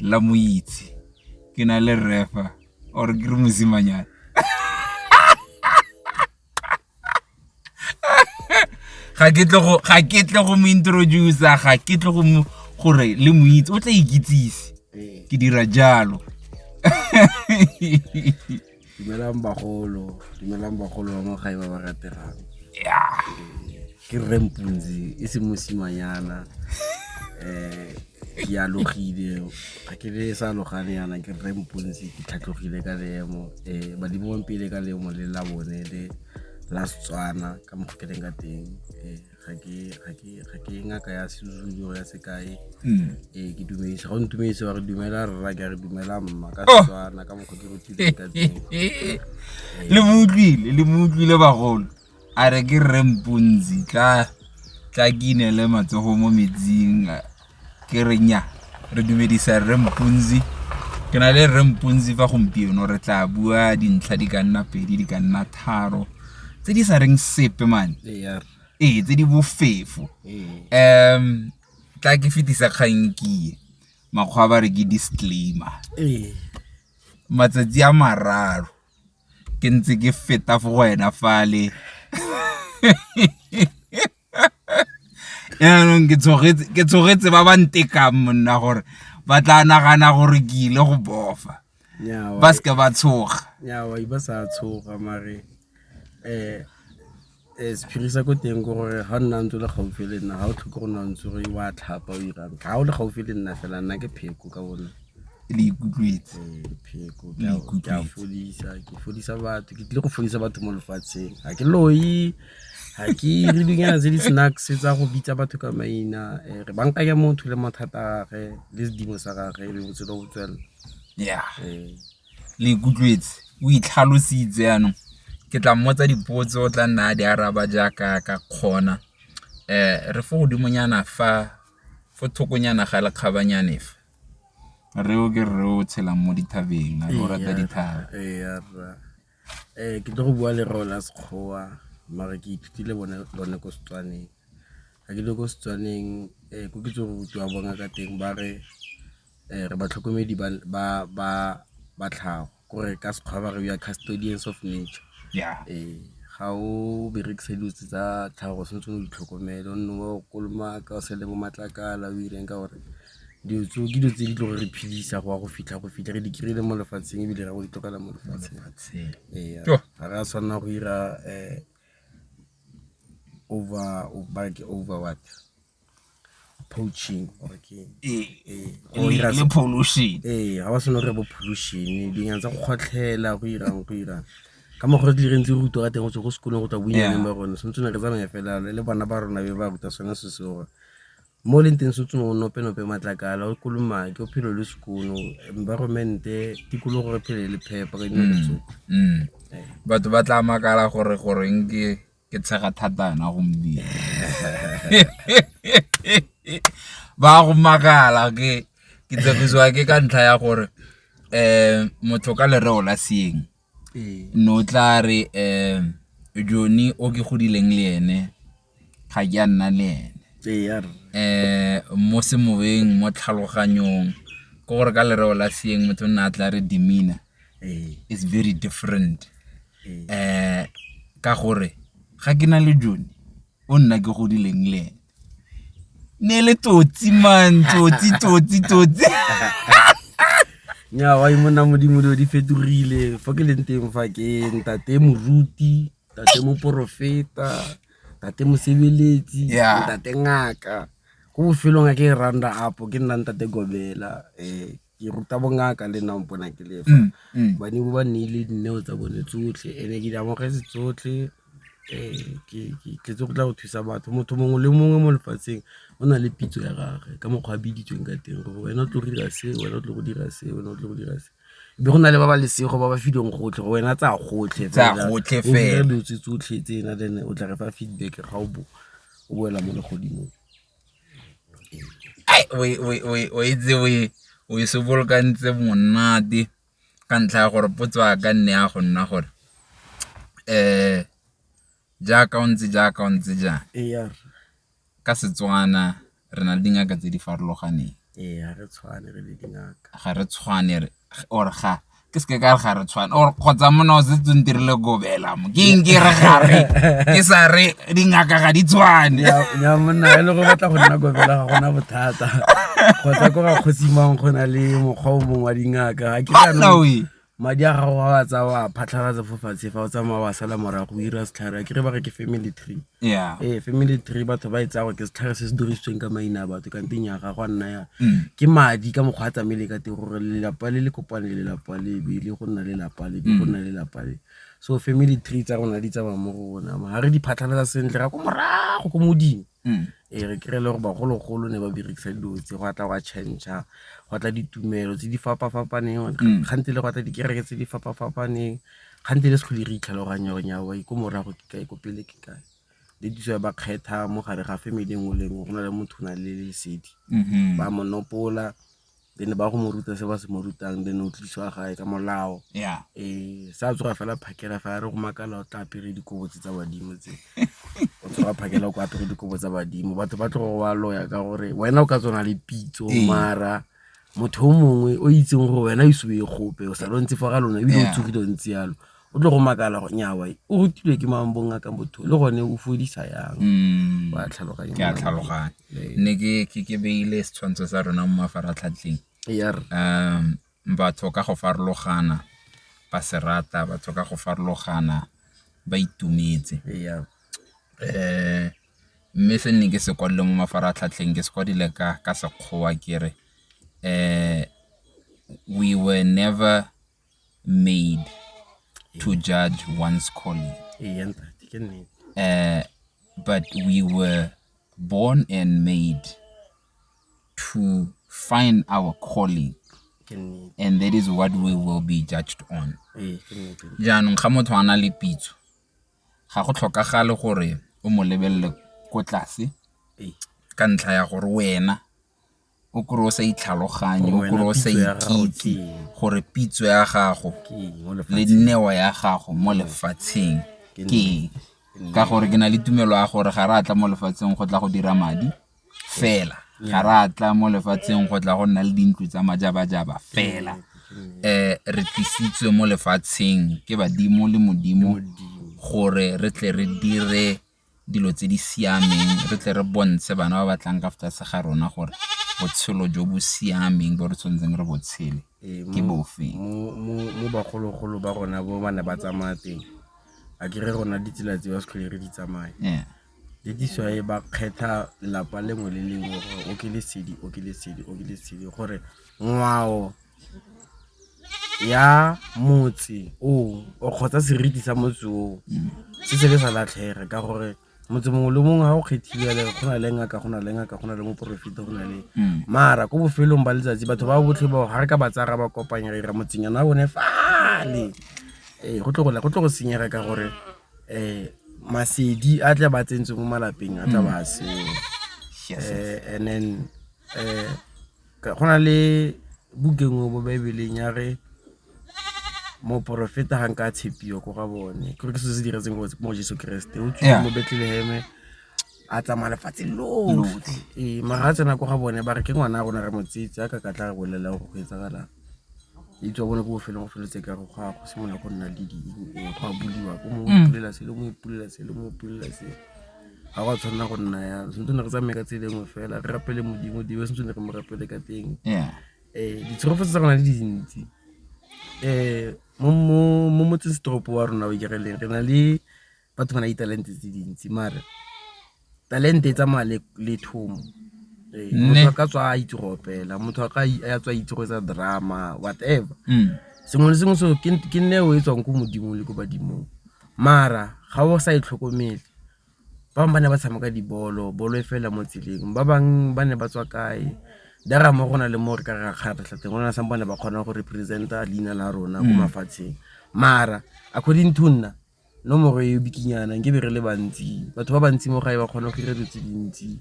la mo itse ke na le refa or ke re mosimanyana ga ke tle go ga ke tle go mo introduce ga ke tle go mo gore le mo itse o tla ikitsise ke dira jalo dumelang bagolo dumelang bagolo ba mogae ba ba rategang ke rempunzi e se mosimanyana um ke alogile ga ke le sa alogane yana ke rempunzi ke tlhatlogile ka leemo um badimo bampele ka leemo le la bone le la setswana ka mogo ke leng ka teng um ga ke e ngaka ya sezulu ya sekae hmm. ee ke dumedisa go ntumedise wa re dumela rra ke re dumela mma ka oh! setswana ka mokgwa ke rutileng ka teng le mo utlwile le mo utlwile bagolo a re ke rre mpontsi tla tla ke inele matsogo mo metsing ke re nya re dumedisa rre mpunzi ke na le rre mpunzi fa gompieno re tla bua dintlha di ka nna pedi di ka nna tharo tse di sa reng sepe mane ee tse di bofefo um tla ke fetisa kgankie makgwa ba re ke disclaimer matsatsi a mararo ke ntse ke feta fo go wena fale yaanong ke tshogetse ba ba ntekang monna gore ba tla nagana gore ke ile go bofa ba seke ba tshoga ba sa tshoga mare um um sephiri sa ko teng ko gore ga o nna ntse o le gaufi le nna ga o tlhoke go nna ntse gore wa tlhapa o irang ga o le gaufi le nna fela nna ke pheko ka bone le ikutlwetse ke fodisa batho ke tlile go fodisa batho mo lefatsheng ga ke loyi ga ke ire dilonyana tse di-snacks tsa go bitsa batho ka maina um re bankanya motho le mathata a gage le sedimo sa gage e be botshelo go tswelela ya um le ikutlwetse o itlhalositse yanong ke tla mmotsa dipotso o tla nna a di araba jaaka ka kgona um re fo godimonyana fa fo thokonyana ga lekgabanyane fa reo ke rre o tshelang mo dithabeng a o rata dithaba Ee, ke tlo go bua lereo la Sekgowa mare ke ithutile lone ko Setswaneng. Ga ke le ko Setswaneng um ko ke tse go rutiwa bona ka teng ba re um re batlhokomedi ba tlhago kore ka Sekgowa ba re we are custodians of nature. Ee, ga o berekise dilo tse tsa tlhago o tshwanetse o di tlhokomele o nne o kolomaka o sele bo matlakala o direng ka gore. Dilo tseo ke dilo tse di tlo re phedisa go ya go fitlha go fitlha re di kry-ile mo lefatsheng ebile ra go di tlogela mo lefatsheng. Ee, ga re a tshwanela go dira um ba re ke over what, poaching or ke eng? Ee, go dira se, ee, ga ba tshwanela go dira bo pollution-e, dinonyane tsa go kgotlhela, go dirang, go dirang. Ka mokgwa o re tlile re ntse re rutiwa ka teng go tswa ko sekolong go tla bonyaneng ba rona, tshwanetse re tsamaye fela le bana ba rona be ba ruta sone se seo. Mo leng teng se tsong o nope-nope matlakala, o kolomake, o phelo le sekono, environment-e, tikologo re phele le phepa ka dinako tsotlhe. Mm, mm. Batho ba tla makala gore goreng ke ke tshega thata yona gomodimo. Ba go makala ke ke tshegiswa ke ka ntlha ya gore um motho ka lereo la seeng ne o tla re Johnny o ke godileng le ene ga ke a nna le ene mo semoyeng, mo tlhaloganyong ke gore ka lereo la seeng motho o nna a tla re demeanour is very different ka gore ga ke na le Johnny o nna ke godileng le ene. ne le tsotsi man tsotsi tsotsi tsotsi nya wa imona modimo dilo di fetogile fa ke leng teng fa ke ntate moruti ntate moporofeta ntate mosebeletsi ntate ngaka ko bofelong a ke e randa apo ke nna ntate gobela um ke ruta bongaka le nna mpona ke lefa mm, mm. bane bo ba nneile dineo tsa bone tsotlhe ene ke di amogetse tsotlhe um ke tletse go tla go thusa batho motho mongwe le mongwe mo lefatsheng o na le pitso ya gage ka mokgwa a biditsweng ka teng gore wena o tlo go dira se wena o tlo go dira se wena o tlo go dira se be go na le ba ba lesego ba ba filweng gotlhe go wena tsa gotlhe dilo tse tsotlhe tse ena then o tla re fa feedback ga o bo o boela mo legodimong o e tse o e sobolokantse monate ka ntlha ya gore potso ya ka nne ya go nna gore jaaka o ntse jaaka o ntse jang ka Setswana re na le dingaka tse di farologaneng ga re tshwane or ga ke se ke ka re ga re tshwane or kgotsa mona o setse o ntirile kobela mo ke eng ke re gare ke sa re dingaka ga di tshwane ya monna e le go batla go nna kobela ga gona bothata kgotsa ko ga kgosimang go na le mokgwa o mongwe wa dingaka ga ke kanoe madi a gago a wa tsa wa phatlhalatsa fo fatshe fa o tsamaya wa sala morago o ira setlhare a kere ba re ke family tree ee family tree batho ba e tsaya gore ke setlhare se se dirisitsweng ka maina a batho kante nya ga go a nna ya mm. ke madi ka mokgwa a tsamaele ka teng gore lelapa le le kopane le lelapa le be le go nna le lapa le be go mm. nna le lapa le so family tree tsa rona di tsamaya mo go rona ga re di phatlhalela sentle ra ko morago ko modimo mm. ee re kry-e le gore bagologolo ne ba berekisa dilo tse go atla go a change-a go atla ditumelo tse di fapafapaneng gantsi le go atla dikereke tse di fapafapaneng Gantsi re se tlhole re itlhaloganya gore nyaa ko morago ke kae, ko pele ke kae. Le ditso ya ba kgetha mo gare ga family e nngwe le e nngwe go na le motho o nang le lesedi. Ba mo nopola then ba go mo ruta se ba se mo rutang then o tlisiwa gae ka molao. Ee, sa tsoga fela phakela fa a re go makala o tla apere dikobo tse tsa badimo tse. O tsoga phakela o apere dikobo tsa badimo, batho ba tlo go wa loya ka gore wena o ka tswa o na le pitso mara. motho o mongwe o itseng gore wena ise o ye gope o sa lontse fa ga lona ebile o tsogile o ntse yalo o tlo go makala go nyawa o rutilwe ke mambong a ka motho le gone o fodisa yang mm. wa tlhaloganya ke a tlhaloganya ne ke ke ke beile setshwantsho sa rona mo mafaratlhatlheng er um batho ka go farologana ba serata batho ka go farologana ba itumetse eh Mme se nne ke se kwadileng mo mafaratlhatlheng ke se kwadile ka Sekgowa ke re we were never made to judge one's calling but we were born and made to find our calling and that is what we will be judged on. Jaanong ga motho a na le pitso. ga go tlhokagale gore o mo lebelele ko tlase ka ntlha ya gore wena o kry-e o sa itlhaloganye, o kry-e o sa ikitse gore pitso ya gago le neo ya gago mo lefatsheng ke eng. Ka gore ke na le tumelo ya gore ga re a tla mo lefatsheng go tla go dira madi. fela ga re a tla mo lefatsheng go tla go nna le dintlo tsa majabajaba fela um re tlisitswe mo lefatsheng ke badimo le modimo gore re tle re dire dilo tse di siameng re tle re bontshe bana ba batlang ka fatshe ga rona gore botshelo jo bo siameng bo re tshwanetseng re botshele ee, ke bofe mo bagologolo ba rona bo ba ne ba tsamaya teng a kere rona ditsela tse ba setlhole re di tsamaya le this why ba kgetha lelapa lengwe le lengwe gore o ke lesedi o ke lesedi o ke lesedi gore ngwao ya motse o o kgotsa seriti sa motse o se se le sa latlhega ka gore motse mongwe le mongwe ga o kgethile le go na le ngaka go na le ngaka go na le moporofeta go na le mm. mara ko bofelong ba letsatsi batho ba botlhe bao ga re ka ba tsaya ba kopanya re dira motsenyana wa bone fale ee go tlo go senyega ka gore Masedi a tla ba tsentse mo malapeng a tla ba seo. And then go na le book e nngwe mo baebeleng ya re moporofeta ga nka a tshepiwa ko ga bone ke gore ke selo se diretsweng mo Jeso Keresete o tswile mo Betleleheme. a tsamaya lefatshe lotlhe ee mara a tsena ko ga bone ba re ke ngwana a rona re motsetse a ka ka tla re bolelela gore go etsagalang itse wa bone ko bofelong go feletse ka go ga go simolola go nna le di go a buliwa ko mo mm. ipulela se le mo ipulela se le mo ipulela se ga go a tshwanela go nna ya sentse ne re tsamaye ka tse dingwe fela re rapele modimo dibe sentse ne re mo rapele ka teng um ditshegofetse tsa gona le dintsi um mo motsesetoropo wa rona o ikereleng re na le batho ba na ditalente tse dintsi mare talente e tsamaya le le thomo Ee, Nne. motho a ka tswa a itse go opela motho a ka i- a tswa a itse go etsa drama whatever Mm. sengwe le sengwe seo ke ke neo e tswang ko modimong le ko badimong mara ga o sa e tlhokomele ba bangwe ba ne ba tshameka dibolo bolo e fela mo tseleng ba bangwe ba ne ba tswa kae dara mo go na le mo re ka re rakgaretlha teng go na sa bone ba kgona go representa leina la rona ko mafatsheng mara according to nna nomoro e bikinyana nke be re le bantsi batho ba bantsi mo gae ba kgona go dira dilo tse dintsi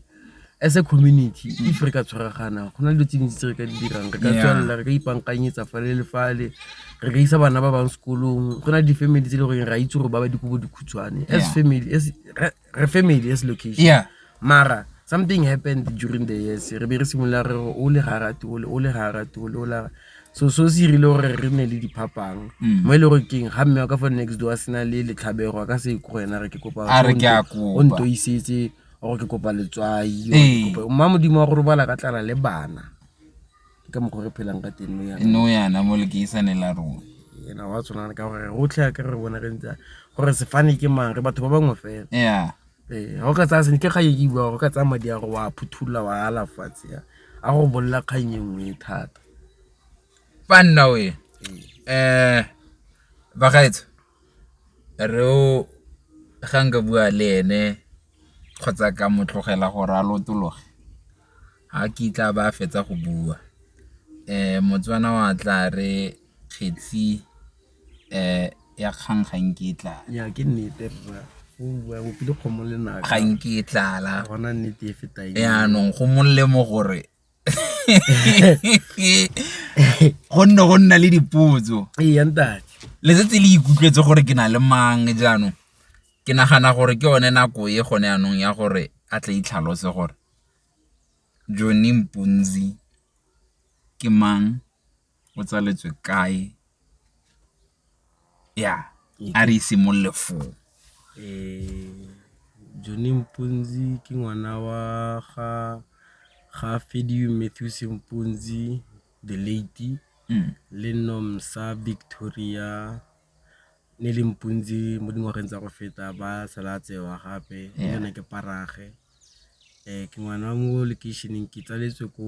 as a community if re ka tshwaragana go na le dilo tse dintsi tse re ka di dirang re ka tswelela re ka ipankanyetsa fale le fale re ka isa bana ba bang sekolong go na le di-family tse e le goreng re a itse gore ba ba dikobo dikhutshwane as family re family as location yeah mara something happened during the years re be re simolola re o le ga ratole o le ga ratole o la so so se irile gore re ne le diphapang mm. mo e le gore keng ga mme wa ka fa next door a sena le letlhabego a ka se ko ena re ke kopa o ntoisetse gore ke kopa letswai mma modimo wa go robala ka tlala le bana ka mokgwa re phelang ka teng no yana mo lekeisane la rona ena wa tshwanana ka gore rotlhe ya ka re bona re ntse gore sefane ke mang re batho ba bangwe fela ya ee ga o ka tsaya sentle ga e bua go ka tsaya madi a go wa phuthulola wa ala fatshe ya a go bolela kgang e nngwe thata fa nna o e um bagaetso re o ga nka bua le ene kgotsa ka mo tlogela gore a lotologe Ga kitla ba fetsa go bua Motswana wa tla re kgetsi ya kgang ga nke e tlala. Ya ke nnete rra o bua bopile kgomo le naka. Ga nke e tlala. Gona nnete e feta e. Yaanong go molemo gore go nne go nna le dipotso. Ee ntate. Letsetse le ikutlwetse gore ke na le mang jaanong ke nagana gore ke yone nako e gone yanong ya gore a tle itlhalose gore Johnny Mpunzi ke mang, o tsaletswe kae, ya a re simolole foo. Johnny Mpunzi ke ngwana wa ga Matthews Mpunzi the late le Nomsa Victoria Nelly Mpunzi mo dingwageng tsa go feta ba sala a tsewa gape le ene ke parage. Ke ngwana wa mo lekeišeneng ke tsaletswe ko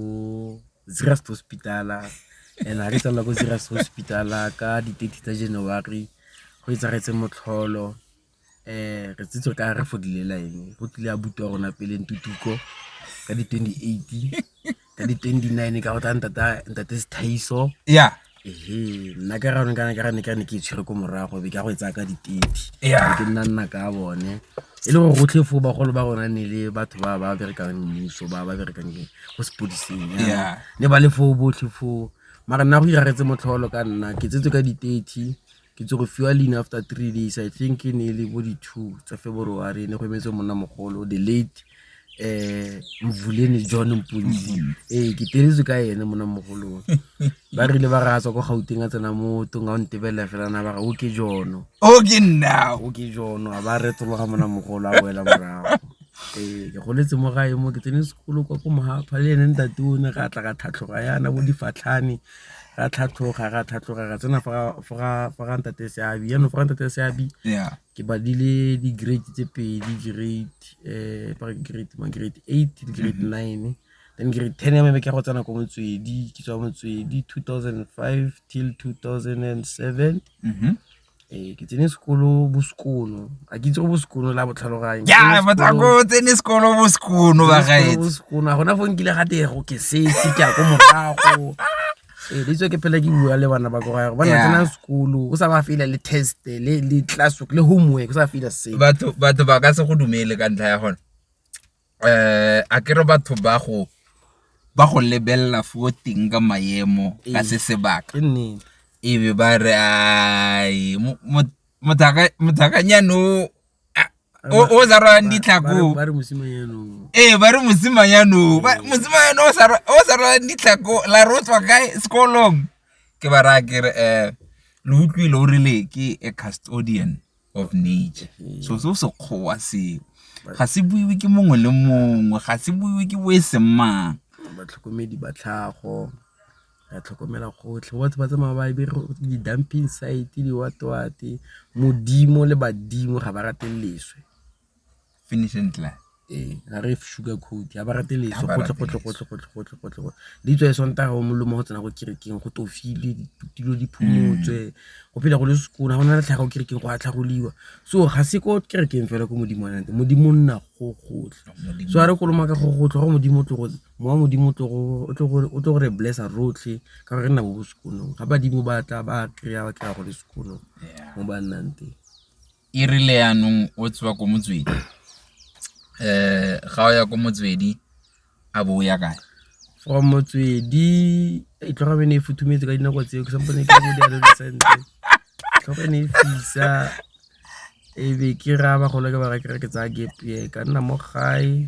Zeerust hospital-a and-e ga re tswalelwa ko Zeerust hospital-a ka di thirty tsa January go etsagetse motlholo. Re setse ka re fodile line go tlile abuti wa rona pele Ntutuko ka di twenty eight. ka di 29 ka go tla ntata ntate sethaiso ya ehe nna ka ra kana ka ne ka ne ke itshwere ko morago be ka go etsa ka di 30 ya ke nna nna ka bone e le go gotlhe fo ba golo ba rona ne le batho ba ba berekang mmuso ba ba berekang ke go sepodiseng ya ne ba le fo botlhe fo mara nna go iragetse motlholo ka nna ke tsetse ka di 30 ke tse go fiwa leina after three days i think e ne e le bo di-two tsa february e ne go emetse monna mogolo the late um mvuleni john mpunzi mm-hmm. ee ke teletswe ka ene monna mogolong ba rile ba ratswa kwa gauteng a tsena mo tong a o ntebelela fela na ba ga o ke jono o ke nna o ke jono a ba retologa monna mogolo a boela morago ee ke goletse mo gae mo ke tsene sekolo kwa ko mogaphale ene ntate o ne ga tla ka tlhatlhoga yana bo difatlhane ra tlhatlhoga ra tlhatlhoga ra tsena fa ga ntate seabi yanong fa ga ntate seabi ke badile di-grade tse pedi grade um grade ma grade eight le grade mm-hmm. nine then grade ten ya mebe ke go tsena ko motswedi ke tswa motswedi two thousand five till two thousand and seven mm-hmm. Ee, ke tsene sekolo bo sekono, a ke itse go bo sekono la botlhaloganyo. Ya, batako o tsene sekolo bo sekono ba gaetse. Bo sekono, a gona fo nkile ga tego ke setse ke ya ko morago. Ee, le itse ke phela ke bua le bana ba ko gae, ba na tsenang sekolo, o sa ba fela le test, le class work, le homework, o sa fela se. Batho ba ka se go dumele ka ntlha ya gone. Akere batho ba go lebelela fo teng ka maemo ka se sebaka, e be ba re mothakanyana o o sa rwalang ditlhako o, ee ba re mosimanyana o, mosimanyana o o sa rwalang ditlhako la re o tswa kae sekolong, ke ba raya ke re lo utlwile o rile ke a custodian. of nature mm-hmm. so se o sekgowa seo ga se buiwe ke mongwe le mongwe ga se buiwe ke bo e seng mang batlhokomedi ba tlhago ra tlhokomela gotlhe batho ba tsamaya ba bere di-dumping site diwatwate modimo le badimo ga ba rate leswe finish and clap ee ga re sugar coat ga ba rate leso gotlhegotlhegotlhegotlhegotlhegotlhe di tswa e sontaga o molomo go tsena go kerekeng go tofile dilo di phumotswe mm. go phela go le sekona go na le tlhaga go kerekeng go atlhagoliwa so ga se ko kerekeng fela ko modimo nante modimo nna go gotlhe so a re koloma ka go gotlhe go modimo tlogo mowa modimo o tlo gore blessa rotlhe ka gore re nna bo bo sekonong ga badimo ba tla ba kry-a ba kry-a go le sekonong mo ba nnang teng E rile yanong o tswa ko motswedi, ga o ya ko motswedi a bo o ya kae? From motswedi, tlhogo ya me e ne e futhumetse ka dinako tseo ke sa mpone ke le mo sentle. Tlhogo e ne e fisa e be ke raya bagolo ke ba raya ke re ke tsaya gap year ka nna mo gae.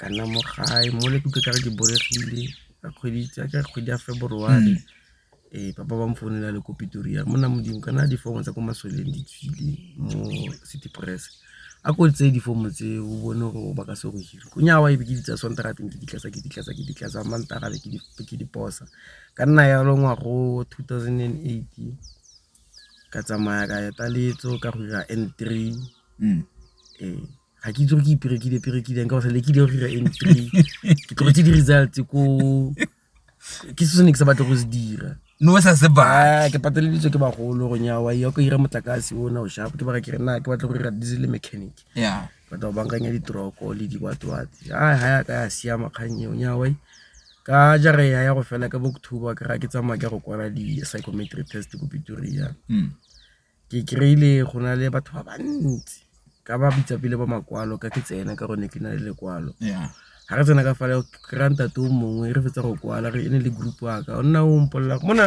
ka nna mo gae mo le kutlwe ka re ke boregile ka kgwedi tsa ka kgwedi ya February ee papa ba mfounela le ko Pretoria mo nna modimo kana difomo tsa ko masoleng di tswile mo city press a ko tseye difomo tse o bone gore ba ka se go hire ko nyawa ebe ke di tsaya sontaga teng ke di tlatsa ke di tlatsa ke di tlatsa mantaga be ke di posa ka nna yalo ngwago two thousand and eight Ka tsamaya ka ya taletso ka go dira N three ee ga ke itse gore ke iperekile perekileng ka go sa le ke dira go dira N three ke tlogetse di-results ko ke se sone ke sa batla go se dira no sa se ba ke pateleditswe ke bagolo go nyawa ya ko ira motlakase o na o shapo ke bara ke re na ke batla go dira diesel mechanic ya batla go bankanya ditroko le diwatwatsi a ha ya ka ya siama kgang eo nyawa Ka jara ya ya go fela ka October ke ra ke tsamaya ke go kwala di-psychometric test ko Pretoria. Mm. Ke kry-ile go na le batho ba bantsi ka ba bitsa pele ba makwalo ka ke tsena ka gone ke na le lekwalo. Yeah ga re tsena ka fale kry-a ntate o mongwe re fetsa go kwala re e ne le group waka o nna o mpolelela mona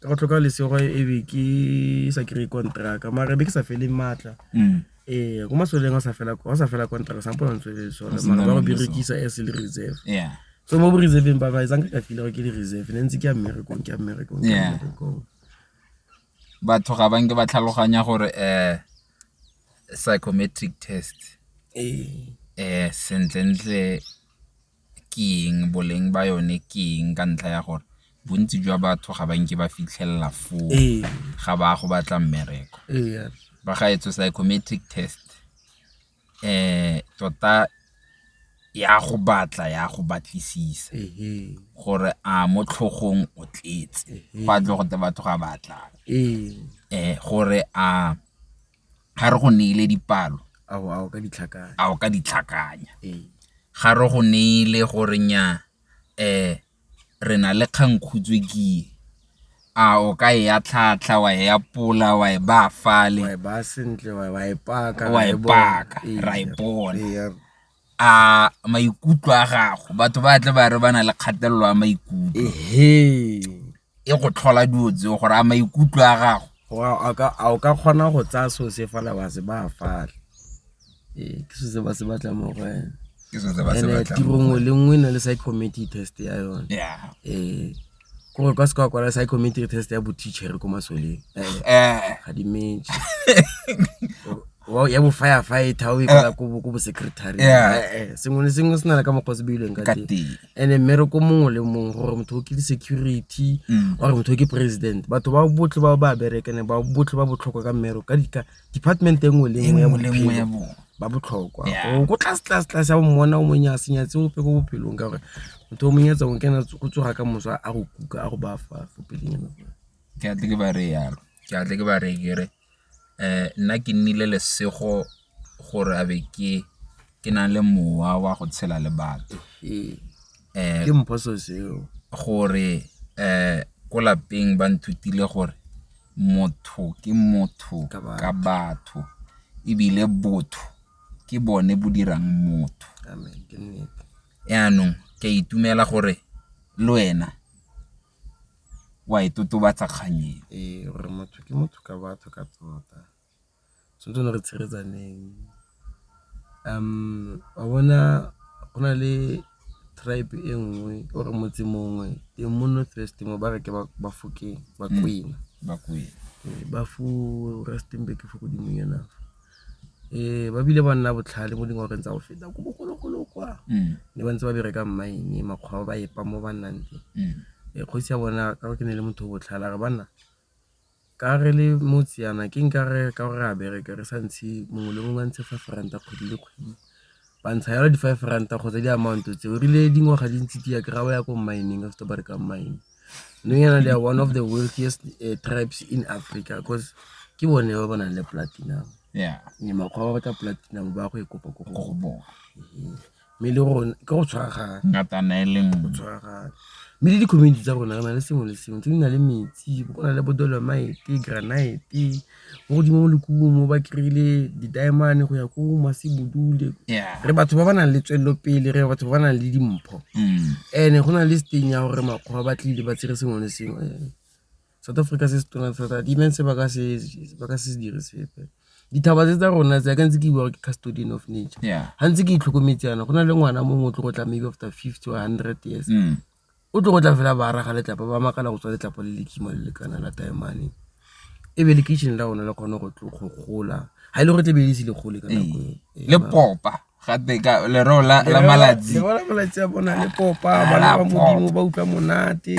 Ka go tlhoka lesego e be ke sa kry-e kontraka mare be ke sa fele maatla ee ko masweleng sa fela kontraka sa mpona ntswe le sone mara ba go berekisa as le reserve so mo bo reserveng ba ba etsang ka file gore ke le reserve ne ntse ke ya mmerekong ke ya mmerekong ke ya mmerekong batho ga ba nke ba tlhaloganya gore um psychometric test ee um sentlentle ke eng, boleng ba yone ke eng ka ntlha ya gore bontsi jwa batho ga ba nke ba fitlhelela foo ga ba ya go batla mmereko. Ba ga etswe psychometric test tota e a go batla, e a go batlisisa gore a mo tlhogong o tletse go a tle go te batho ga ba tlang gore a. ga re go neile dipalo, a o ka di tlhakanya. Ga re go neile gore nnyaa re na le kgangkhutswe ke e, a o ka e atlhaatlha, wa e apola, wa e baya fale, wa e paka, ra e bona. a maikutlo a gago batho ba tle ba re ba na le kgatelelo ya maikutlo e go tlhola dilo tseo gore a maikutlo a gago a o ka kgona go tsaya seo se fala wa se ba fale ee ke seo se ba se batla mo go wena tirong le nngwe e na le psychometric test ya yone ee gore kwa seka kwala psychometry test ya boteachere ko masoleng eh. ga di metse ya bo-firefighter o e kwala ko bo-secretary eh, sengwe le sengwe se na le ka mokgwa se beilweng ka teng and-e mmereko mongwe le mongwe gore motho o ke di-security mm. ore motho o ke president batho ba botlhe ba ba berekene ba botlhe ba botlhokwa ka mmereko ka department e nngwe le nngwe ya bophelo ba botlhokwa o ko tlase tlase tlase ya bommona o monnye a senya tse ope ko bophelong ka gore motho o monyetsa o kena go tsoga ka mosa a go kuka a go ba fa fo peleng ke atle ke ba re yalo ke atle ke ba re kere um nna ke nnile lesego gore a be ke ke nang le mowa wa go tshela le batho ke mphoso seo gore um ko lapeng ba nthutile gore motho ke motho ka batho ebile botho ke bone bo dirang motho yaanong ke a itumela gore le wena wa e totobatsa kgang eo ee, motho ke motho ka batho ka tota wa bona go na le tribe e nngwe or motse mongwe e mo North West mo ba re ke Bafokeng, Bakwena. Rustenburg fo godimo nyana fa. Ba bile ba nna botlhale mo dingwageng tsa go feta ko bogologolo kwa, ne ba ntse ba bereka mine, makgwaba ba epa mo ba nnang teng. Kgosi ya bona ka gore ke ne e le motho o botlhale a re banna. Ka re le motse yana ke nka re ka gore re a bereka re sa ntshe mongwe le mongwe a ntshe five ranta kgwedi le kgwedi, ba ntsha yalo di five ranta kgotsa di amount-o tse o rile dingwaga di ntse di ya kry-a ba ya ko mine-eng after go berekang mine. Nou yana they are one of the wealthiest tribes in Africa cause ke bone ba ba nang le platinum and makgwaba a go batla platinum ba ya go e kopa ko go bone. mme le gore ke go tshwaragana ngatana e le nngwe tshwaragana mme le di-community tsa rona re na le sengwe le sengwe tse di na le metsi go na le bodolomaete granite mo godimo mo lekubung mo ba kry-ile di-diamone go ya ko masebodule re batho ba ba nang le tswelelopele re batho ba ba nang le dimpho mm. and-e go na le steng ya gore makgwa ba tlile ba tsere sengwe le sengwe South Africa se se tona thata di ne se ba ka se ba ka se dire sepe dithaba tse tsa rona tse ka ntse ke bua ke custodian of nature ga ntse ke itlhokometse yana go na le ngwana mongwe o tlo go tla maybe after fifty or hundred years mm. o tlo go tla fela ba araga letlapa ba makala go tswa letlapa le le kima le le kana la taemane e be le kitchen la rona le kgone go gola ga e le gore tle be le se le gole ka nako le popa gate ka lereo la la malatsi Lereo la malatsi a bona le popa Ah, bana ba pop. modimo ba utlwa monate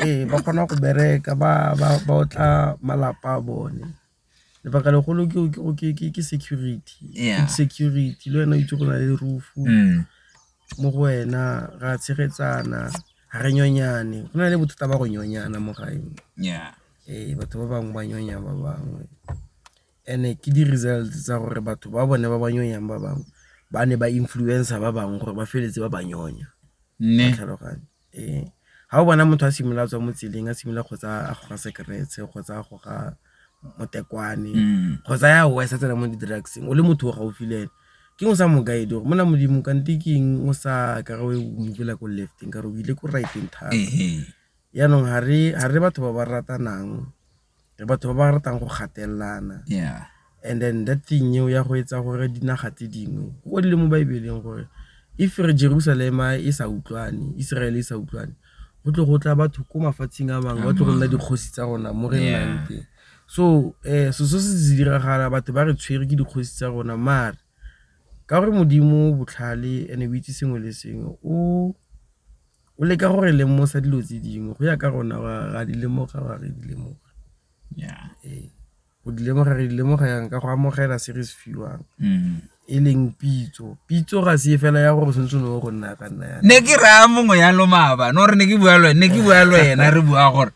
ee ba kgona go bereka ba ba ba otla malapa a bone lebaka legolo ke ke- ke- ke- ke security Yeah. Food security le wena o itse go na le rufu Mm. mo go wena ra tshegetsana ga re nyonyane go na le bothata ba go nyonyana mo gaeng yeah ee batho ba bangwe ba nyonya ba bangwe And-e ke di-results tsa gore batho ba bone ba ba nyonyang ba bangwe ba ne ba influencer ba bangwe gore ba feleletse ba ba nyonya. Wa tlhaloganya? Ee, ga o bona motho a simolola a tswa mo tseleng a simolola kgotsa a goga sekeretse kgotsa a goga motekwane kgotsa ya worse a tsena mo di-drugs-eng o le motho o gaufi le ene, ke eng o sa mo guide-e gore monna Modimo kante ke eng o sa ka ra o move-la ko left-eng ka re o ile ko right-eng thata. Jaanong ga re batho ba ba ratanang. Re batho ba ba ratang go gatelelana. Yeah. And then that thing eo ya go etsa gore dinaga tse dingwe go le mo Baebeleng gore if re Jerusalema e sa utlwane, Israel e sa utlwane, go tle go tla batho ko mafatsheng a mangwe ba tle go nna dikgosi tsa rona mo re nnang teng. So eh so se se diragala batho ba re tshwere ke dikgosi tsa rona mare ka gore Modimo botlhale and o itse sengwe le sengwe o o leka gore lemosa dilo tse dingwe go ya ka rona ra di lemoga ra re di lemoga ee. go di lemoga re di lemoga yang ka go amogela se re se fiwang mm. e leng pitso pitso ga se e fela ya gore tshwanetse no go nna ka nna ne ke raya mongwe ya lomaba no re ne ke bua le ne ke bua le wena re bua gore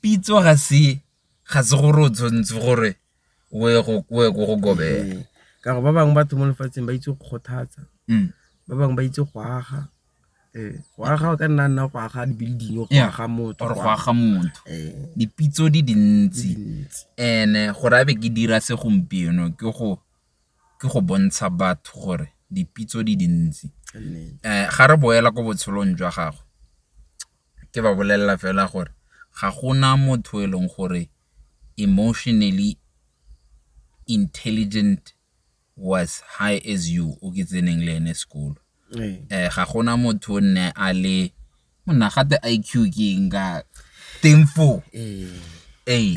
pitso ga se ga se gore o tshwanetse gore o ye ko go kobela. Ka gore ba bangwe batho mo lefatsheng ba itse go kgothatsa, ba bangwe ba itse go aga. Go aga o ka nna nna go aga di-building, go aga motho or go aga motho. Dipitso di dintsi and-e gore a be ke dira se gompieno ke go bontsha batho gore dipitso di dintsi. Ga re boela ko botshelong jwa gagwe. ke ba bolelela fela gore ga gona motho e leng gore emotionally intelligent was high as you o ke tseneng le ene sekolo um ga gona motho o nne a le monna gate i q ke eng ka teng foo ee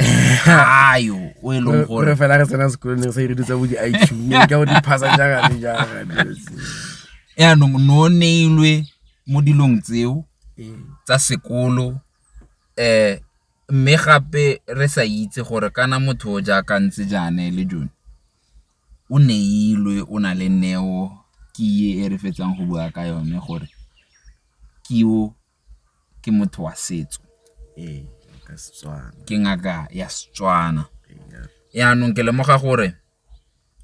ayo o e leng gore fela re tsena sekolong re sa ire ditsa bo di-i q ka bo di-phasa jagane jagane yaanong no neilwe mo dilong tseo tsa sekolo mme gape re sa itse gore kana motho o jaaka ntse jaana e le jone o neilwe o na le neo ke e re fetsang go bua ka yone gore kiwo ke motho wa setso ke ngaka ya Setswana yanong ke lemoga gore.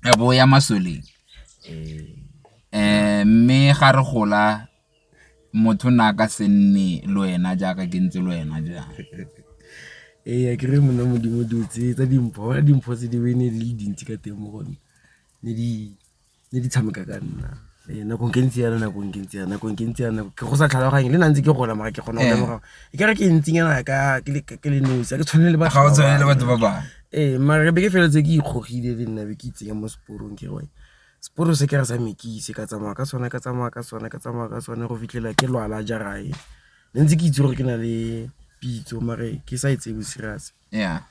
a bo o ya masoleng um mme ga re gola motho na ka se nne le wena jaaka ke ntse le wena jaana ee ke re monna modimo dilo tse tsa dimpho bona dimpho tse di be ne di le dintsi ka teng mo gone ne di ne di tshameka ka nna ee, nako nke ntse yana nako nke ntse yana nako nke ntse yana ke go sa tlhaloganye le nantse ke gola mara ke kgona go lemoga e kare ke ntsinyana ka ke le nosi a ke tshwane le batho ga o tshwane le batho ba ba ee mara re be ke feletse ke ikgogile le nna be ke itsenya mo seporong ke re seporo se ke re sa mekise ka tsamaya ka sone ka tsamaya ka sone ka tsamaya ka sone go fitlhela ke lwala jarae ne ntse ke itse gore ke na le pitso mare ke sa e tsebo serious yeah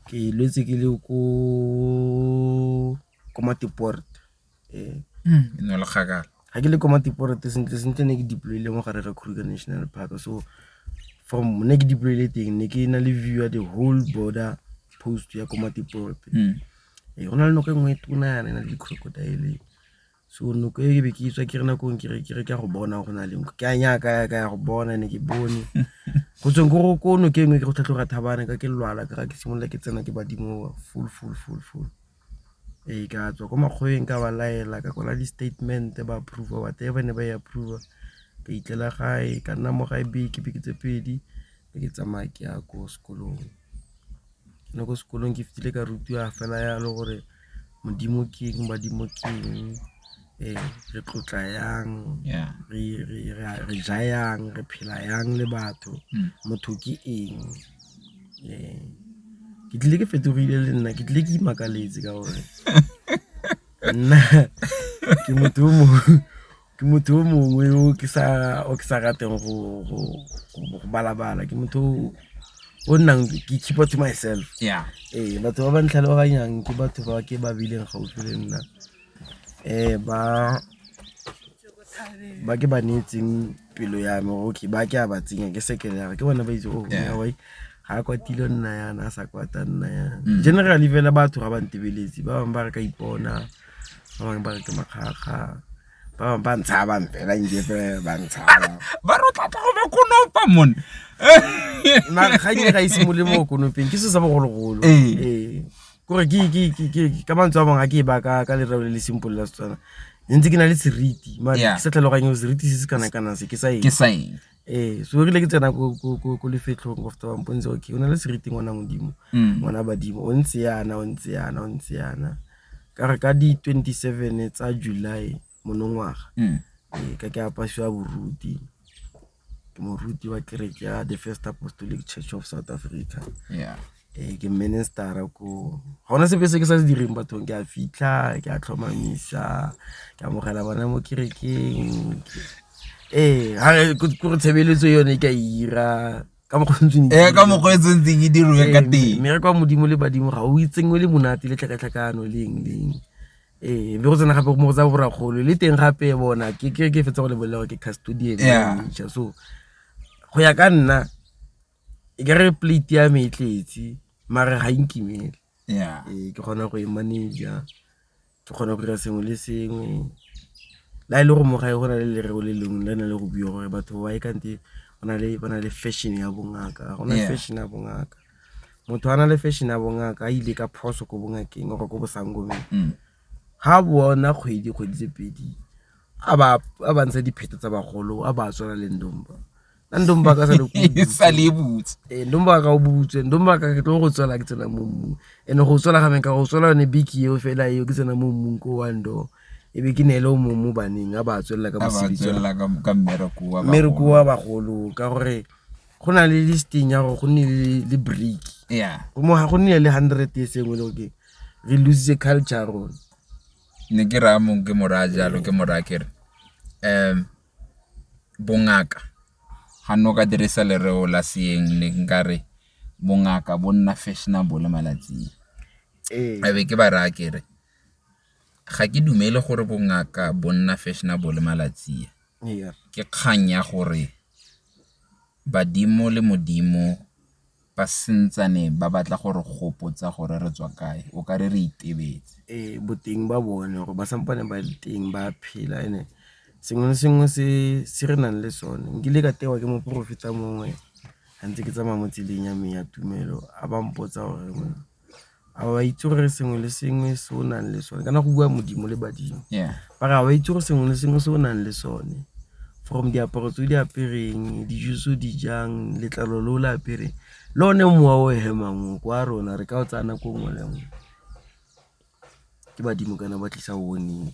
ke lwetse ke le ko ko matiport ee hmm, e ne le kgakala ga ke le ko matiport sentle sentle ne ke deploile mo gare ga kruger national park so from ne ke deploile teng ne ke na le view ya the whole border post ya ko matiport hmm. ee go na le nako e nngwe e tona yana e na le di-crocodile so noko e ke be ke itswa ke re nakong ke re ke re ke go bona go na le nko ke a nyaka ya ka ya go bona ne ke bone go tsweng ko ko noke e nngwe ke go tlhatlhoga thabane ka ke lwala ka ga ke simolola ke tsena ke badimo full full full full Ee, ka tswa ko makgoweng ka ba laela ka kwala di-statement-e ba approve-a whatever ne ba e approve-a, ka itlela gae ka nna mo gae beke, beke tse pedi be ke tsamaya ke ya ko sekolong. Gone ko sekolong ke fitlhile ka rutiwa fela yalo gore Modimo ke eng, badimo ke eng. Ee, re tlotla yang, re ja yang, re phela yang le batho, hmm. motho ke eng. Ee, ke tlile ke fetogile le nna, ke tlile ke imakaletse ka gore nna ke motho o mongwe ke motho o mongwe o ke sa o ke sa rateng go go go balabala ke motho o nnang ke keep to myself yeah ee batho ba ba ntlhaloganyang ke batho ba ke ba bileng gaufi le nna Ba ba ke ba neetseng pelo ya me okay ba ke a ba tsenya ke seke jara ke bone ba itse o ga a kwatile o nna yana a sa kwata nna yana. Generally fela batho ga ba ntebeletse ba bangwe ba re ka ipona, ba bangwe ba re ke makgakga, ba bangwe ba ntshaba fela nje fela ba ntshaba. Ba re o tla tla go ba konopa mon. Mara ga ke ne ka ise molemo wa konopeng ke selo sa bogologolo . kore ka mantswe a bangwe a ke e baka ka lereo le le simple la setswana ne ntse ke na le seriti mare ke sa tlhaloganye seriti se se kana-kana se ke sa eng ee so rile ke tsena ko lefetlhong of tsabampone tse okay o na le seriti ngwana modimo mm. ngwana badimo o ntse yana o ntse yana o ntse yana ka re ka di-twenty seven tsa july monongwaga mm. ee, ka ke apasiwa boruti ke moruti wa kereke ya the first apostolic church of south africa yeah. e ke ministera ko ga ona sepe se ke sa se direng bathong ke a fitlha ke a tlhomamisa ke amogela bona mo kerekeng ee kore tshebeletso yone e ka ira ka mokgwetseng eh, ka mokgwetseng tse ke dirwe ka eh, teng mme re kwa modimo le badimo ga o itseng o le monate le tlhakatlhakano leng leng ee be go tsena gape mo go tsa borakgolo le teng gape bona ke ke ke fetsa go le bolela ke custodian ja so go ya ka nna e ka re plate ya me e tletse mare ga inkimele ya ee ke kgona go e manager ke kgona go dira sengwe le sengwe la e le go mogae go na le lereo le lengwe le na le go bua gore batho ba e kante ba na le fashion ya bongaka ga gona fashion ya bongaka motho a na le fashion ya bongaka a ile ka phoso ko bongakeng gore ko bosangomeng mm. ga bona kgwedi kgwedi tse pedi a ba ntsha dipheto tsa bagolo a ba tswela le ndomba na ndomba ka sa le butse ee ndomba ka o butse ndomba ka ke tlo go tswela ke tsena mo mmung and go tswela ga menka go tswela yone biki eo fela eo ke tsena mo mmung ko wa ndo e be ke neele o mong mo baneng a ba tswelela ka mosebitsi mmereko wa bagolo ka gore go na le listing ya gore go nne le break yeah go mo ga go nne le 100 e sengwe le okay re lose culture rona ne ke ra mong ke mora jalo ke mora kere um bongaka ga no ka dirisa lereo la seeng ne nka re bongaka bo nna fashionable malatsing ee. a be ke ba raya kere Ga ke dumele gore bongaka bo nna fashionable malatsi a, ke kgang ya gore badimo le modimo ba santsane ba batla go re gopotsa gore re tswa kae, o kare re itebetse. Ee, boteng ba bone gore ba sampane ba le teng ba phela and sengwe le sengwe se re nang le sone. Nkile ka tewa ke moporofeta mongwe ga ntse ke tsamaya mo tseleng ya me ya tumelo a ba mpotsa gore. a o a itse gore sengwe le sengwe se o nang le sone kana go bua modimo le badimo mara a o a itse gore sengwe le sengwe se o nang le sone from diaparo tse o di apereng, dijo tse o di jang, letlalo le o le apereng le one mowa o hemang o kwa rona re ka o tsaya nako nngwe le nngwe. Ke badimo kana ba tlisa warning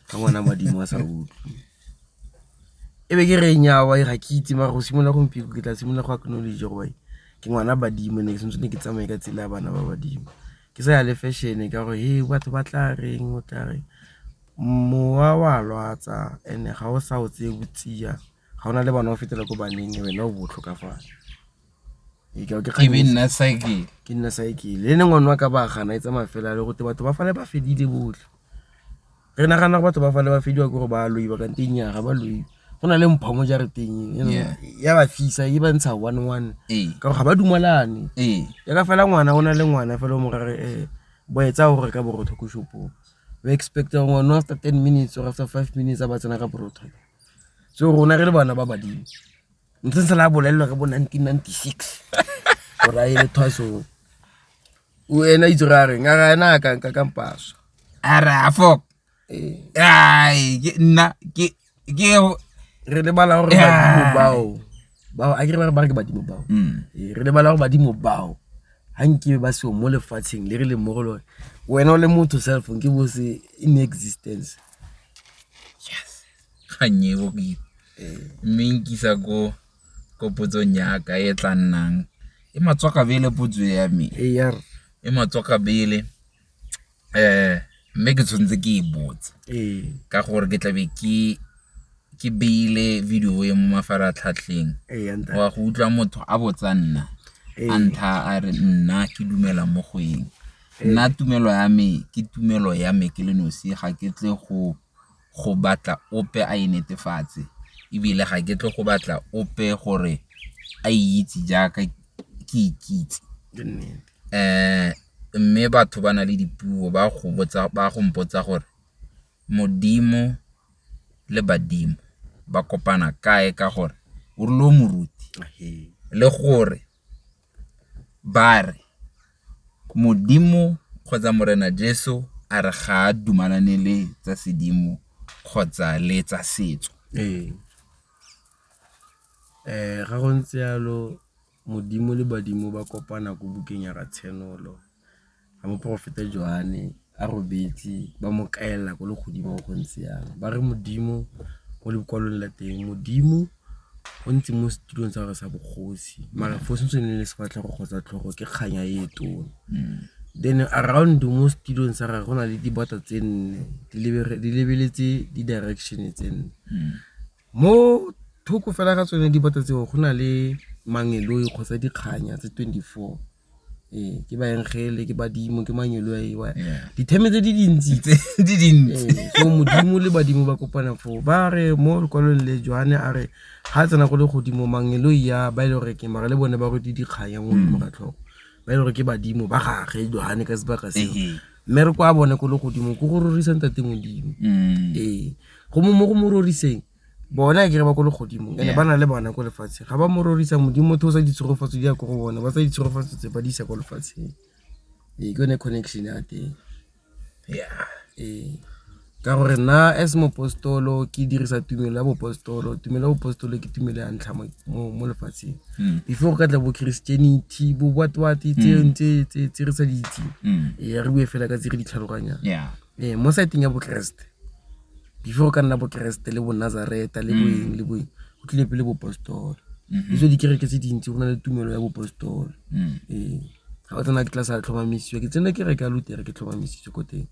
ga ngwana a badimo a sa utlwe. E be ke re nyaa ga ke itse mara go simolola gompieno ke tla simolola go acknowledge-a gore ke ngwana badimo and-e ke tshwanetse ne ke tsamaye ka tsela ya bana ba badimo. Ke sa ya le fashion-e ka gore hee batho ba tla reng o tla reng, mowa wa lwatsa and-e ga o sa o tseye o tsia ga o na le bana o fetela ko baneng wena o bo o tlhokafala. ke be nna cycle ke nna cycle le ne ngwana wa ka ba gana e tsamaya fela le gote batho ba fale ba fedile botlhe re nagana gore batho ba fale ba fediwa ke gore ba loi ba kante nyaga ba loi go na le mpho mo jareteng ya ba fisa e ba ntsha one one ee. ka gore ga ba dumalane ee. ya ka fela ngwana o na le ngwana fela o mo rare um eh, boetsa gore ka borotho ko shopong ba expecta gore ngwana after ten minutes or after five minutes a ba tsena ka borotho so rona re le bana ba badimo ntse ntse la bolelelwa ka bo 1996 gore a ele thwaso o ena itse re a reng a ra ena a kanka ka mpaso a re a fok ai ke nna ke ke re lebala gore badimo bao bao a ke re ba re ba re ke badimo bao mm. ee, re lebala gore badimo bao ha nkibe ba seo mo lefatsheng le re leng mo go lone wena o le motho cellphone ke bo se in existence ga nnye e bokete mme e nkisa ko potsong ya ka e tla nnang e matswakabele potso ya me, e matswakabele mme ke tshwanetse ke e botse ka gore ke tlabe ke beile video e mo mafaratlhatlheng o a go utlwa motho a botsa nna a ntha a re nna ke dumela mo go eng. Nna tumelo ya me ke tumelo ya me ke le nosi ga ke tle go. go batla ope a e netefatse ebile ga ke tle go batla ope gore a e itse jaaka ke ikitse. Mme batho ba na le dipuo ba go mpotsa gore Modimo le badimo ba kopana kae ka gore o rile o moruti le gore. Ba re, Modimo kgotsa Morena Jesu a re ga a dumalane le tsa sedimo kgotsa le tsa setso. Ee. Ga go ntse jalo, Modimo le badimo ba kopana ko bukeng ya Ratshenolo. ga moporofeta Joane a robetse ba mo kaela ko legodimo go ntse yang ba re modimo mo lekwalong la teng modimo o ntse mo setulong tsa gore sa bogosi mara fo sentse ne le sefatlhego kgotsa tlhogo ke kganya e tona mm. then around mo setulong sa gage go na le dibata tse nne di lebeletse di-direction tse nne mm. Mo thoko fela ga tsone dibata tseo go na le mangeloi kgotsa dikganya tse 24 ee ke baengele ke badimo ke manyelo a ewa ditheme tse di dintsi tse di dintsi so modimo le badimo ba kopana foo ba re mo lekwalong le joane a re ga tsena go le godimo mangeloi ya ba e le gore ke mara le bone ba rwete dikganya mo godimo ga tlhogo ba e le gore ke badimo ba gage joane ka sebaka seo Mme re kwa bone ko legodimo ko go rorisa ntate modimo mm. ee go mo mo go mo roriseng bona e kere ba ko legodimo ene ba na le bona ko lefatsheng ga ba mo rorisa modimo motho o sa ditshegofatso di ya ko go bone ba sa ditshegofatso tse ba di isa ko lefatsheng ee ke yone connection ya teng ya ee Ka gore nna as mopostolo ke dirisa tumelo ya bopostolo tumelo ya bopostolo ke tumelo ya ntlha mo lefatsheng hmm. before go ka tla bo christianity bo what what hmm. tse re sa di itseng hmm. ee re bue fela ka tse re di tlhaloganyang ee mo saeteng ya bokeresete before go ka nna bokeresete le bonazareta le boeng le boeng go tlile pele bopostolo mm-hmm. ditso dikereke tse dintsi go na le tumelo ya bopostolo ee ga o tsena ke tla sa tlhomamisitswe ke tsena kereke ya lutere ke tlhomamisitswe ko teng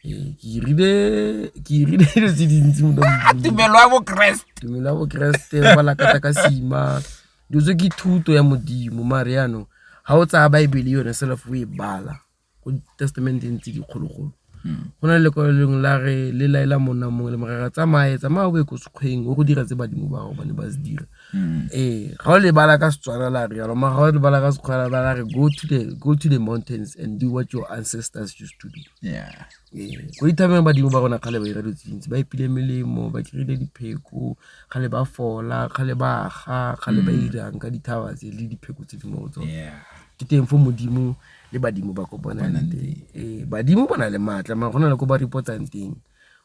ke irile ke irile dilo tse dintsi mo tumelo ya bokeresete tumelo ya bokeresete ba lakata ka sima dilo tse ke thuto ya modimo mare yaanong ga o tsaya baebele yone self o e bala ko testamenteng tse dikgologolo hmm. go na le lekwalo lengwe la re le laela monna mongwe le morara tsamaye tsamaya o be ko sekgweng o go dira tse badimo ba gago ba ne ba se dira Mm. ee ga o lebala ka setswana la re yalo mara ga o lebala ka sekgwela ba la re go to the go to the mountains and do what your ancestors used to do yeah ee go ithabeng badimo ba rona kgale ba ira dutse dintsi ba ipile melemo ba kry-ile dipheko kgale ba fola kgale ba ga kgale ba mm. irang ka dithaba tse le dipheko tse di mo go tsone ke teng fo modimo le badimo ba ko bonang teng ee badimo bona le maatla mara go na le ko ba repotsang teng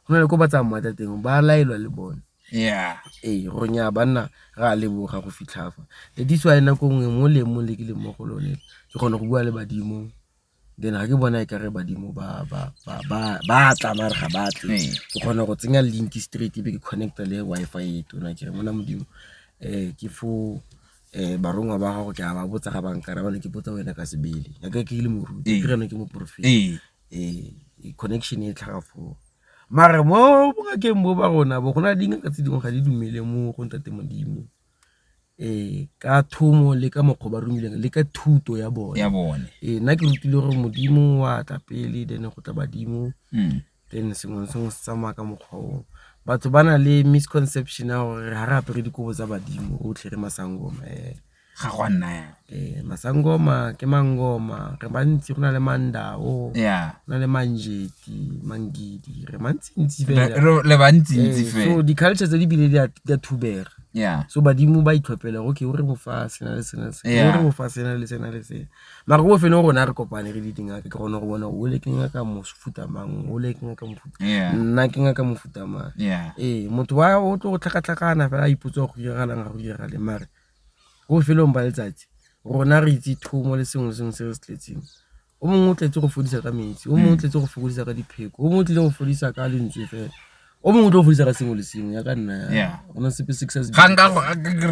go na le ko ba tsamaya tsa teng ba laelwa le bone Yeah. Ee, gore nyaa banna re a leboga go fitlha fa. That is why nako nngwe mo leemong le ke leng mo go lone ke kgone go bua le badimo then ga ke bona e kare badimo ba tla mare ga ba tle ee. ke kgone go tsenya link straight ebe ke connecta le Wi-Fi e tona ke re mona modimo um ke fo um eh, barongwa ba gago ke a ba botsa ga bankara bane ke botsa wena ka sebele yaka ke le moruti ee. ke reno ke moporofeta ee connection e tlhaga foo mare mo bongakeng bo ba rona bo go na le dingaka tse dingwe ga di dumele mo go ntate Modimo ka thomo le ka mokgwa ba romileng le ka thuto ya bone ya bone ee nna ke rutile gore Modimo wa tla pele then go tla badimo mm. then sengwe sengwe se tsamaya ka mokgwa o batho ba na le misconception ya gore ga re apere dikobo tsa badimo otlhe re masangoma um ga go a nna yalo Ee, masangoma ke mangoma re bantsi go na le mandao ya go na le manjeti mangidi re mantsintsi re fela re- le bantsintsi Ee, so fela di-culture tse di bile di a di a thubega ya so badimo ba itlhophela gore okay o re bofa sena le sena le sena Yeah. o re bofa sena le sena le sena mara ko bofelong rona re kopane re le dingaka ke kgone go bona o le ke ngaka mofuta mang o le ke ngaka mofuta ya nna ke ngaka mofuta mang ya ee motho wa o tlo go tlhakatlhakana fela a ipotsa go diragalang ga go diragale mare Ko bofelong ba letsatsi rona re itse thomo le sengwe sengwe se re se tletseng o mongwe o tletse go fodisa ka metsi o mongwe o tletse go fokodisa ka dipheko o mongwe o tlile go fodisa ka lentswe fela o mongwe o tle go fodisa ka sengwe le sengwe ya ka nna ya ona sepe six se ga nka go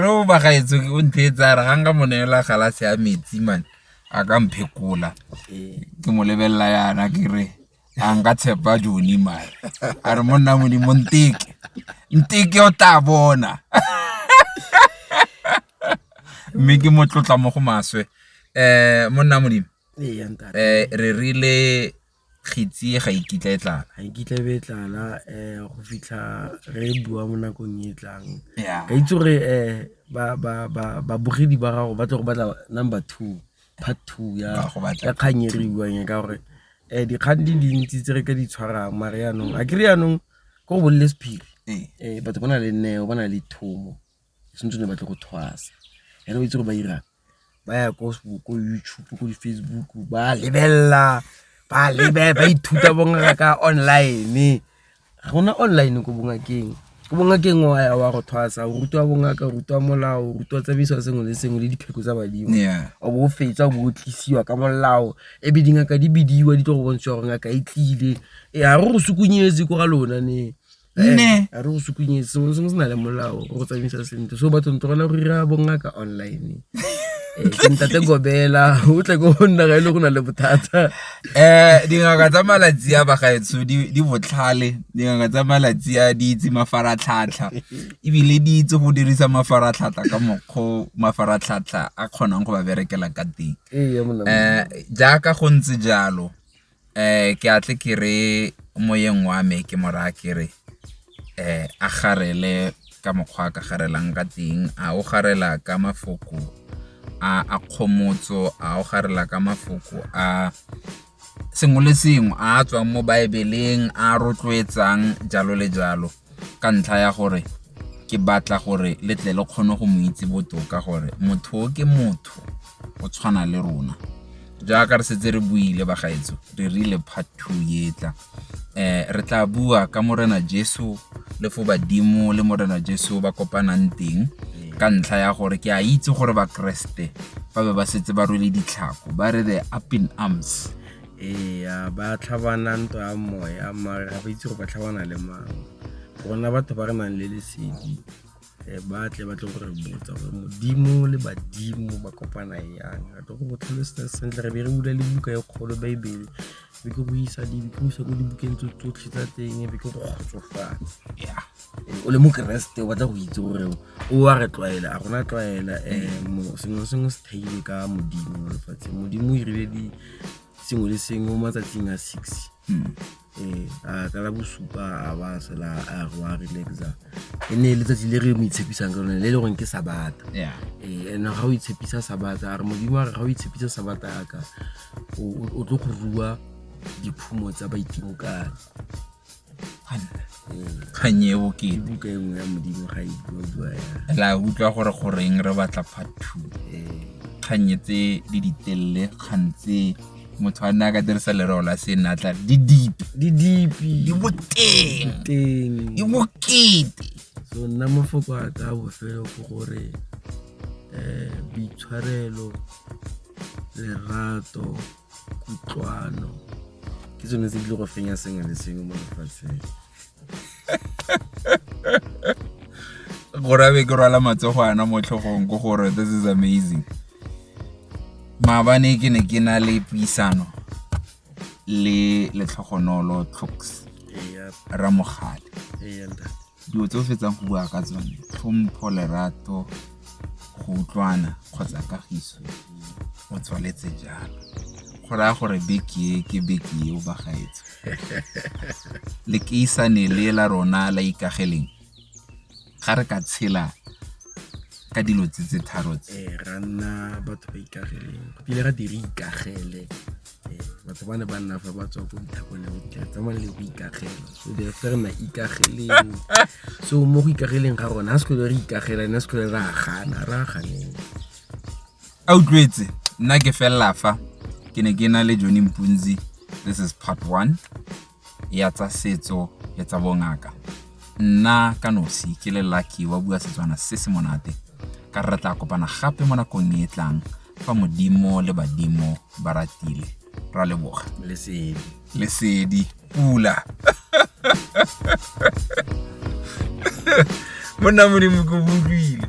re o ba gaetso o nthe e tsara ga nka monela galase ya metsi man a ka mphekola ke mo lebelela yana ke re a nka tshepa jone mare a re monna modimo nteke nteke o tla bona mme ke mo tlotla mo go maswe um monna modimo um re rile kgitsi ga ikitla e tlala ga ikitla e be e tlala um go fitlha re e bua mo nakong e tlang ka itse gore um babogedi ba gago ba tlo go batla number two part two ya kgang e re e buang e ka gore um dikgang di dintsi tse re ka di tshwarang mare yanong a kere yanong ko go bolele sephiri um eh. batho ba na le neo ba na le thomo sentse ne batle go thwasa ene o itse gore ba irang ba ya ko youtube ko di-facebook ba lebelela ba lebe ba ithuta bongaka online go na online ko bongakeng ko bongakeng wa ya wa go thwasa o rutwa bongaka o rutwa molao o rutwa tsamaiso sengwe le sengwe le dipheko tsa badimo o bo o fetsa o bo o tlisiwa ka molao ebe dingaka di bidiwa di tlo go bontshiwa gore ngaka e tlile e ga re go sukunyetse ko ga lona ne ne eh, a re go sukunyetse sengwe le sengwe se na le molao go go tsamaisa sentle so batho ntogela go dira bongaka online eh, ntate gobela o tle ko go nna ga e le go na le bothata Dingaka tsa malatsi a bagaetsho di botlhale, dingaka tsa malatsi a di itse mafaratlhatlha ebile di itse go dirisa mafaratlhatlha ka mokgwa o mafaratlhatlha a kgonang go ba berekela ka teng. Jaaka go ntse jalo ke a tle ke re moyeng wa me ke mo raya ke re. um a garele ka mokgwa a ka garelang ka teng a o garela ka mafoko a a kgomotso a o garela ka mafoko a sengwe le sengwe a a tswang mo baebeleng a rotloetsang jalo le jalo ka ntlha ya gore ke batla gore le tle le kgone go mo itse botoka gore motho o ke motho o tshwana le rona jaaka re setse re buile bagaetso re rile part two etla um re tla bua ka Morena Jesu le fo badimo le Morena Jesu ba kopanang teng ka ntlha ya gore ke a itse gore bakeresete ba be ba setse ba rwele ditlhako ba re the up in arms ee ba tlhabana ntwa ya moya mare ga ba itse go ba tlhabana le mang rona batho ba re nang le lesedi eh, ba tle ba tle go re botsa gore modimo le badimo ba kopana yang re tlo go go tlhalosetsa sentle re be re bula le buka e kgolo baebele be ke go isa dipuso ko dibukeng tse tsotlhe tsa teng be ke go kgotsofatsa o le mokeresete o batla go itse gore o a re tlwaela a gona tlwaela um sengwe sengwe se theile ka modimo mo lefatsheng modimo o irile sengwe le sengwe mo matsatsing a six hmm. Ee, a ka la bosupa a ba a sela a re wa relaxa e ne e letsatsi le re mo itshepisang ka lone le e le goreng ke sabata yeah. ee and ga o itshepisa sabata a re modimo a re ga o itshepisa sabata yaka o tlo go rua diphumo tsa baitimo kane kgang e bokete la utlwa gore goreng re batla part two kgang tse di ditelele kgang tse motho a nne a ka dirisa lereo la senatla di dipe di dipe di boteng teng di bokete so nna mafoko a ka bofelo ke gore um boitshwarelo lerato kutlwano ke tsone tse di le go fenya sengwe le sengwe mo lefatsheng gore a be ke rwala matsogo ana mo tlhogong ko gore this is amazing maabane ke ne ke na le puisano le letlhogonolo tlhoks ramogale Dilo tse o fetsang go bua ka tsone, tlhompho, lerato, go utlwana kgotsa kagiso o tswaletse jalo go raya gore beke e ke beke e o bagaetse le keisane le la rona la ikageleng ga re ka tshela ka dilo tse tse tharo tse eh, ra nna batho ba ikageleng go pile ra dire ikagele eh, batho ba ne ba nna fa ba tswa ko ditlhakong le botlhe tsamaya le go ikagela so di fa re na ikageleng so mo go ikageleng ga rona ga sekole re ikagela ne sekole re agana re aganeng a utlwetse nna ke felela fa ke ne ke na le johnny mpunzi this is part one ya tsa setso le tsa bongaka nna ka nosi ke le lucky wa bua setswana se se monate ka re tla kopana gape mo nakong e e tlang fa modimo le badimo ba ratile ra leboga lesedi lesedi pula monna modimo ko butlwile